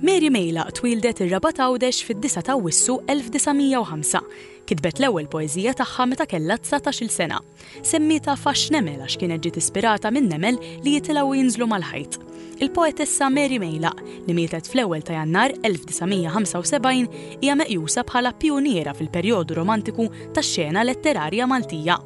Mary Mejlaq twildet ir-Rabat Għawdex fid-9 ta' Wissu 1905. Kitbet l-ewwel poeżija tagħha meta kellha 19-il sena. Semmietha fax nemel għax kienet ġiet ispirata minn nemel li jitilgħu jinżlu mal-ħajt. Il-poetessa Mary Mejlaq, li mietet fl-ewwel ta' Jannar 1975, hija meqjusa bħala pjuniera fil-perjodu romantiku tax-xena letterarja Maltija.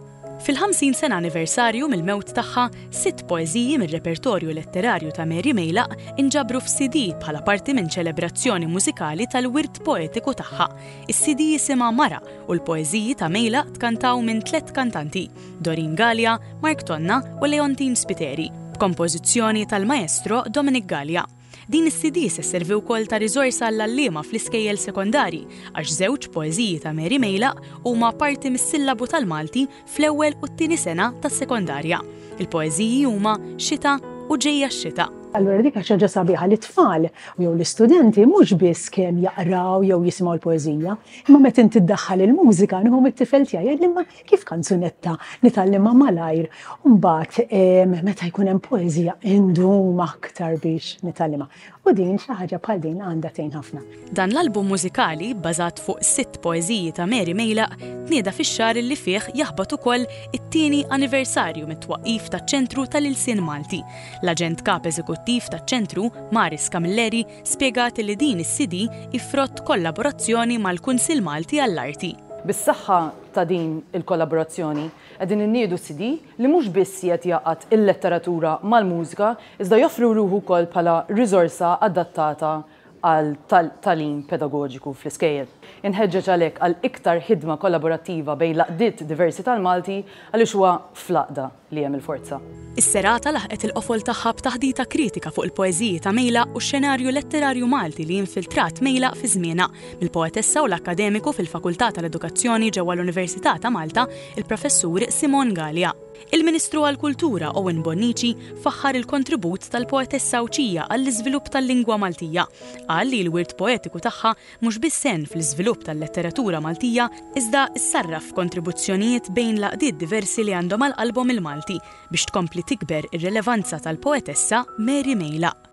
Fil-50 sena anniversarju mill-mewt tagħha, sitt poeżiji mir-repertorju letterarju ta' Mary Meylaq inġabru f'CD bħala parti minn ċelebrazzjoni mużikali tal-wirt poetiku tagħha. Is-CD jisimha Mara u l-poeżiji ta' Meylaq tkantaw minn tliet kantanti, Doreen Galea, Mark Tonna u Leontine Spiteri, b'kompożizzjoni tal-Maestro Dominic Galea. Din is-CD se sservi wkoll ta' riżorsa għall-għalliema fl-iskejjel sekondarji għax żewġ poeżiji ta' Mary Meilaq huma parti mis-sillabu tal-Malti fl-ewwel u t-tieni sena tas-sekondarja. Il-poeżiji huma Xita u Ġejja x-Xita. Allura dik kienet xi ħaġa sabiħa li t-tfal jew l-istudenti mhux biss kemm jaqraw jew jisimgħu l-poeżija, imma meta inti ddaħħal il-mużika, nieħu mit-tifel tiegħi, jgħidli imma Kif kanzunetta nitgħallimha malajr u mbagħad meta jkun hemm poeżija indum aktar biex nitgħallimha. U din xi ħaġa bħal din għandha tgħin ħafna. Dan l-album mużikali, bbażat fuq sitt poeżiji ta' Mary Mejlaq, tnieda fix-xahar li fih jaħbat ukoll it-tieni anniversarju mit-twaqqif taċ-Ċentru tal-Ilsien Malti. L-Aġent Kap Eżekuttiv taċ-Ċentru, Maris Camilleri, spjegat li din is-CD hi frott kollaborazzjoni mal-Kunsill Malti għall-Arti. Bis-saħħa ta' din il-kollaborazzjoni, qegħdin inniedu CD li mhux biss qiegħed jgħaqqad il-letteratura mal-mużika iżda joffri ruħu wkoll bħala riżorsa adattata għal tagħlim pedagoġiku fl-iskejjel. Inħeġġeġ għalhekk għal iktar ħidma kollaborattiva bejn l-għaqdiet diversi tal-Malti għaliex huwa fl-għaqda, li hemm il-forza. Is-serata laħqet il-qofol tagħha b'taħdita kritika fuq il-poeżiji ta' Mejlaq u x-xenarju letterarju Malti li infiltrat Mejlaq fi żmienha, mill-poetessa u l-akkademiku fil-Fakultà tal-Edukazzjoni ġewwa l-Università ta' Malta, il-Professur Simon Galea. Il-Ministru għall-Kultura Owen Bonnici faħħar il-kontribut tal-poetessa Għawdxija għall-iżvilupp tal-lingwa Maltija. Qal li l-wirt poetiku tagħha mhux biss sehem fl-iżvilupp tal-letteratura Maltija iżda ssarraf f'kontribuzzjonijiet bejn l-għaqdiet diversi li għandhom għal qalbhom il-Malti biex tkompli tikber ir-rilevanza tal-poetessa Mary Meylaq.